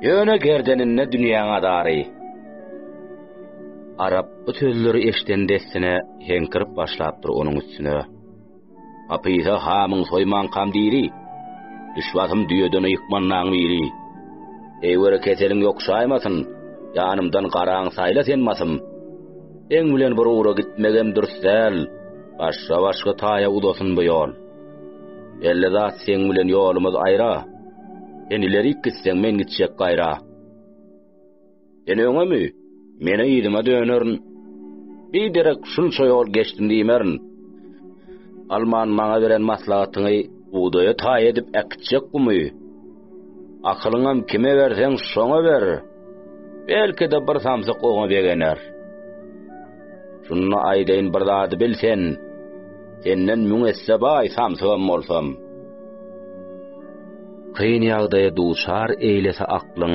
Speaker 1: Ýöne gerdeninde dünýäň azary. Arap bu sözleri eşden dessine heňkirip başlapdyr onuň üstüne. Apyha hamyň soýmankam diri, düşbasym düýeden ýykmanlaň biri. Eý bir keseliň ýokşaýmasyn, ýanymdan garaň saýla sen masym. Seň bilen bir ugra gitmegem dürs däl, başga başga taýa uzasyn bu ýol. Belli zat seň bilen ýolumyz aýra, sen ilerik gitseň men gitjek gaýra. Sen öňemi? Meni yzyma dönerin. Bir derek şunça ýol geçdim diýmerin. Alman maňa beren maslahatyňy bugdaýa taý edip äkitjek gumy. Akylyňam kime berseň şoňa ber. Belki-de bir samsyk oňa begener. Şunda aýdaýyn bir zady bil sen. Senden müň esse baý samsygam bolsam. Kyn ýagdaýa duçar eýlese aklyň,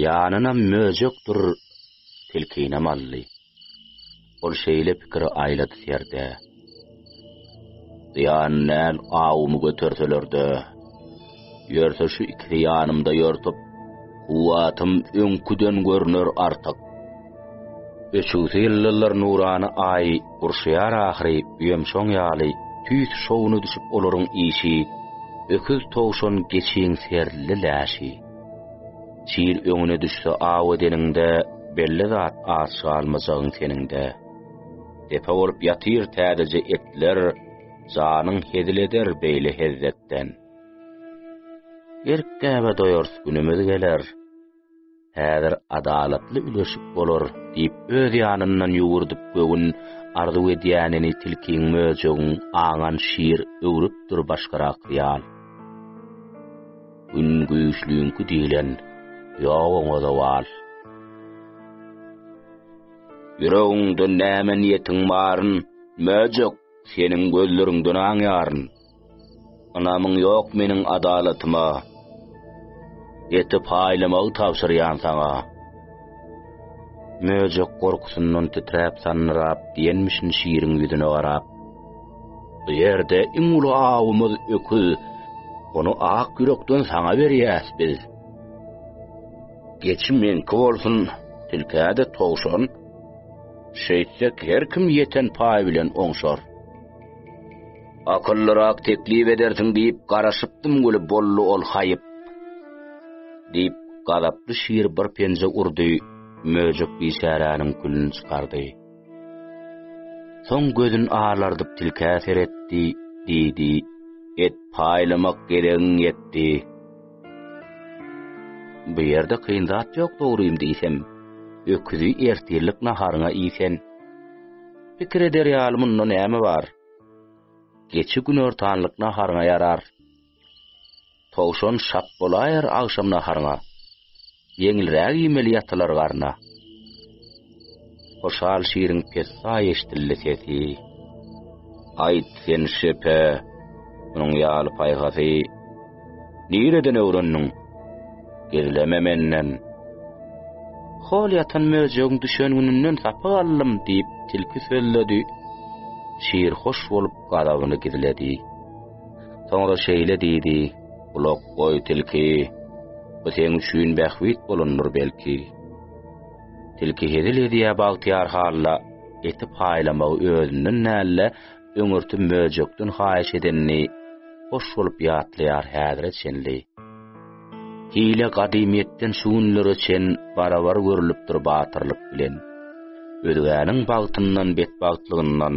Speaker 1: Ýanynam möjek dur, tilkinem aldy. Ol şeýle pikiri aýlady serde. Zyýan näl awumy göterseler-de, ýörse şu ikisi ýanymda ýörtüp, kuwwatym öňküden görner artyk. Öçügsi ýyldyzlar nurany Aý gurşaýar ahyry öýem şoň ýaly tüýs şowuna düşüp olaryň işi öküz towşan geçiň serli läşi. Çil öňüne düşse aw edeniňde, belli zat aç galmajagyň seniňde. Depe bolup ýatyr täzeje etler, janyň hezil eder beýle hezzetden. Erk-gäbe doýars günümiz geler, häzir adalatly üleşik bolar, diýip, öz ýanyndan ýüwürdip göwün arzuw edýänini tilkiň, möjegiň aňan şir öwrüpdir başgarak ýal. Gün güýçlüňki diýlen, ýok oňa zowal. Ýüregiňde näme niýetiň baryn, möjek, seniň gözleriňden aňýaryn. Ynamyň ýok meniň adalatyma, eti paýlamagy tabşyrýan saňa. Möjek gorkusyndan titräp-sandyrap diýenmişin Şiriň ýüzüne garap. Bu ýerde iň uly awymyz öküz. Ony ak ýürekden saňa berýäs biz. Geçi meňki bolsun, tilkä-de towşan. Şeýtsek, her kim ýeten paý bilen oňşar. Akyllyrak teklip edersiň diýip garaşypdym weli boldy ol haýyp. Diýip, gazaply şir bir penje urdy, möjek biçäräniň külüni çykardy. Soň gözün alardyp tilkä seretdi, diýdi. Et paýlamak geregiň ýetdi. Bu ýerde kyn zat ýok dogrymy diýsem. Öküzi ertirlik naharyňa iýsen. Pikir eder ýaly munda näme bar? Geçi günortanlyk naharyňa ýarar. Towşan şap bolaýar agşam naharyňa, Ýeňilräk iýmeli ýatylar garna. Hoşal şiriň pessaý eşdildi sesi, Aýt sen şepe, munuň ýaly paýhasy Nireden öwrendiň, gizleme menden. Hol ýatan möjegiň düşen gününden sapak aldym, diýip, tilki sözledi. Şir hoş bolup, gazabyny gizledi. Soňra şeýle diýdi, Gulak goý, tilki, bu seň üçin bähbit bolandyr belki. Tilki hezil edýä bagtyýar halla eti paýlamagy özünden nälle öňürti möjekden haýyş edenini hoş bolup ýatlaýar häzire çenli. Hile gadymyýetden şu günlere çen barabar görülipdir batyrlyk bilen. Özgäniň bagtyndan betbagtlygyndan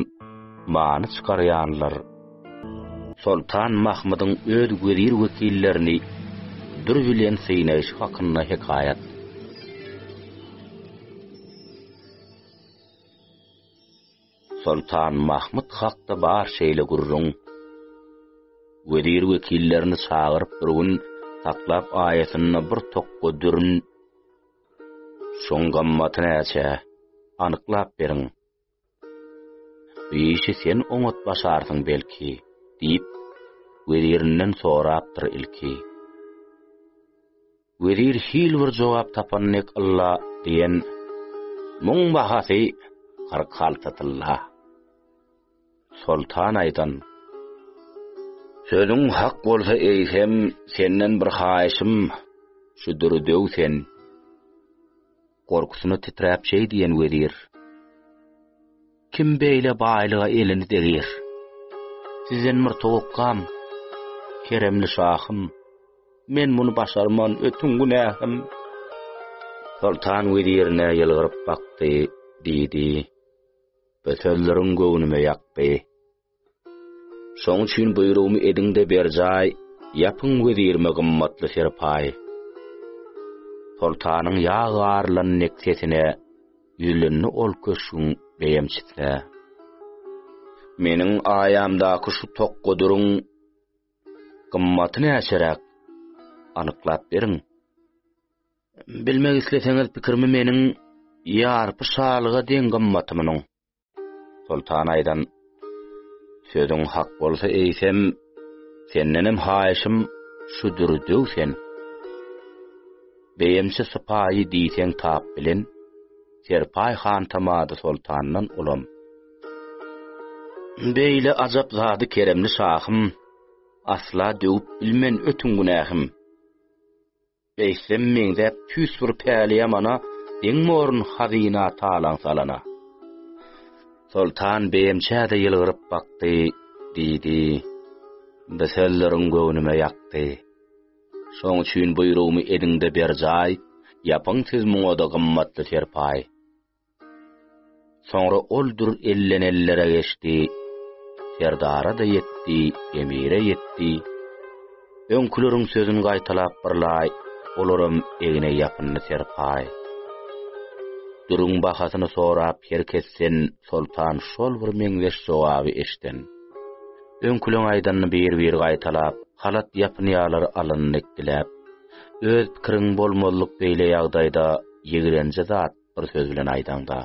Speaker 1: many çykarýanlar Soltan Mahmydyň öz wezir-wekillerini dür bilen synaýşy hakynda hekaýat. Soltan Mahmyt hakda bar şeýle gürrüň. Wezir-wekillerini çagyryp bir gün saklap aýasynda bir tokga dürün. Şoň gammaty näçe? Anyklap beriň. Bu işi sen oňat başarsyň belki, diýip, wezirinden sorapdyr ilki. Wezir hil bir jogap tapan dek ylla diýen, Muň bahasy kyrk alty tylla. Soltan aýdan, Sözüň hak bolsa eýsem, senden bir haýyşym, şu düri döw sen. Gorkusyna titräp şeý diýen wezir. Kim beýle baýlyga elini degir? Sizden bir towakkam, keremli şahym, men muny başarman, ötüň günähim. Soltan wezirine ýylgyryp bakdy, diýdi. Bu sözleriň göwnüme ýakdy. Şoň üçin buýrugymy ediň-de berjaý, ýapyň wezirime gymmatly serpaý. Soltanyň ýag garylan nek sesine ýüzlendi ol köşgüň beýemçisi. Meniň aýamdaky şu tokgadyryň gymmaty näçeräk? Anyklap beriň. Bilmek isleseňiz pikirimi meniň ýarpy şalyga deň gymmaty munuň. Soltan aýdan sözüň hak bolsa eýsem, sendenem haýyşym şudur döw sen. Beýemçi sypaýy diýseň tap bilen, Serpaý han tamady soltandan ulam. Beýle ajap zady keremli şahym, Asla döwüp bilmen ötüň günähim. Eýsem meňzäp tüýs bir päliýamana, Deň borun hazyna talaň salana. Soltan beýemçä-de ýylgyryp bakdy, Diýdi, Bu sözleriň göwnüme ýakdy. Şoň üçin buýrugymy ediň-de berjaý, Ýapyň siz muňa-da gymmatly serpaý. Soňra ol dür elden ellere geçdi, serdara-da ýetdi, emire ýetdi. Öňküleriň sözüni gaýtalap birlaý, olaram egne ýapyndy serpaý. Dürüň bahasyny sorap her kesden soltan şol bir meňzeş jogaby eşden. Öňküleň aýdanyny bir-bir gaýtalap, halat ýapynýarlar alyny dikdiläp. Öz pikiriň bolmazlyk beýle ýagdaýda ýigrenji zat. Bir söz bilen aýdaňda,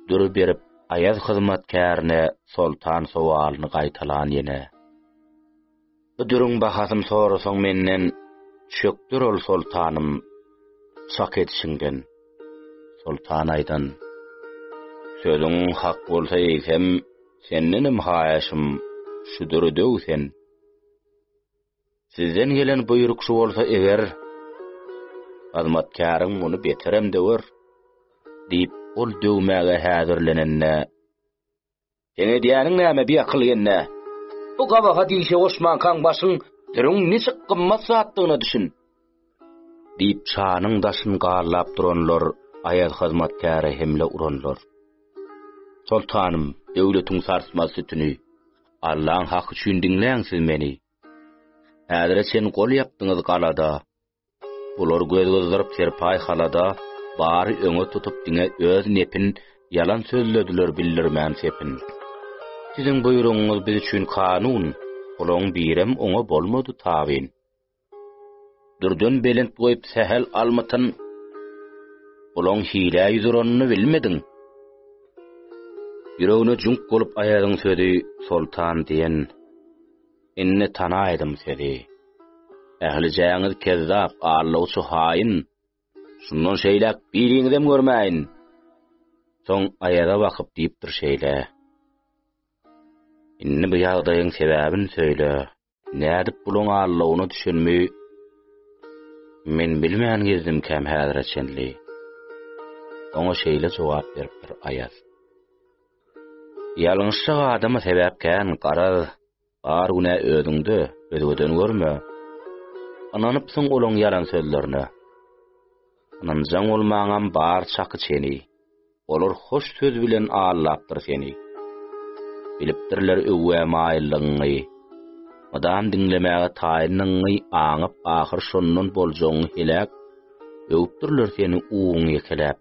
Speaker 1: dury berip aýaz hyzmatkärine soltan sowalyny gaýtalan ýene. Bu dürüň bahasyny sorasaň menden, çökder ol soltanym, çak edişiňden. Soltan aýdan. Sözüň hak bolsa eýsem, sendenem haýyşym, şu düri döw sen. Sizden gelen buýruk şu bolsa eger, hyzmatkäriň muny beterem döwer, diýip, ol döwmäge häzirlenende, Seň edýäniň näme, biakyl hende? Bu gabahat işe goşmankaň başyň, dürüň niçik gymmat zatdygyna düşün. Diýip, çanyň daşyn garlap duranlar aýal hyzmatkäre hemle uranlar. Soltanym, döwletiň sarsmaz sütüni, Allaň haky üçin diňläň siz meni. Häzire çen gol ýapdyňyz galada, Bular göz gyzdyryp serpaý halada, Bary öňe tutup diňe öz nepin, Ýalan sözlediler bildirmän sepin. Siziň buýrugyňyz biz üçin kanun, Olaň birem oňa bolmady tabyn. Dürden belent goýup sähel almytyn, Olaň hilä ýüz uranyny bilmediň. Ýüregine jüňk bolup Aýazyň sözi Soltan diýen, Indi tanaýdym sezi. Ählijäňiz kezzap, allawçy haýyn, Şundan şeýläk biriňizem görmäýin. Soň Aýaza bakyp diýipdir şeýle, Indi bu ýagdaýyň sebäbini söýle. Nädip buluň allawyna düşenimi men bilmän gezdimkäm häzire çenli. Oňa şeýle jogap beripdir Aýaz. Ýalňyşja adamy sebäp kän, garaz, bar günä özüňde, özgeden görme. Ynanypsyň olaň ýalan sözlerine. Ynanjaň bolmaňam bar çaky çeni. Olar hoş söz bilen aldapdyr seni. Bilipdirler öwgä maýyllygyňy. Mydam diňlemäge taýyndygyňy aňyp ahyr şondan boljagyňy heläp, öwüpdirler seni uwuň ýekeläp.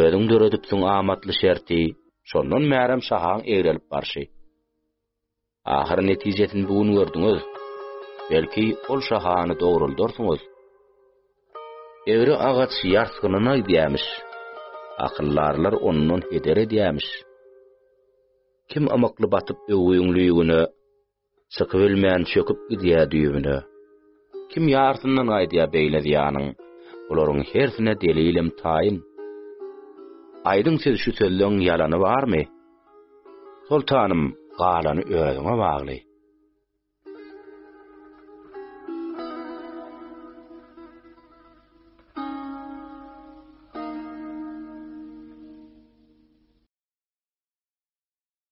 Speaker 1: Özüň döredipsiň amatly şerti. Şondan bärem şahaň egrelip barşy. Ahyry netijesini bu gün gördüňiz. Belki, ol şahany dogruldarsyňyz. Egri agaç ýarsgynyna gidýämiş. Akyldarlar ondan heder edýämiş. Kim ymykly batyp öwgüň lüýügine, Çykybilmän çöküp gidýär düýbüne. Kim ýarsyndan gaýdýar beýle zyýanyň? Bularyň hersine delilem taýyn. Aýdyň siz şu sözleň ýalany barmy? Soltanym, galany özüňe bagly.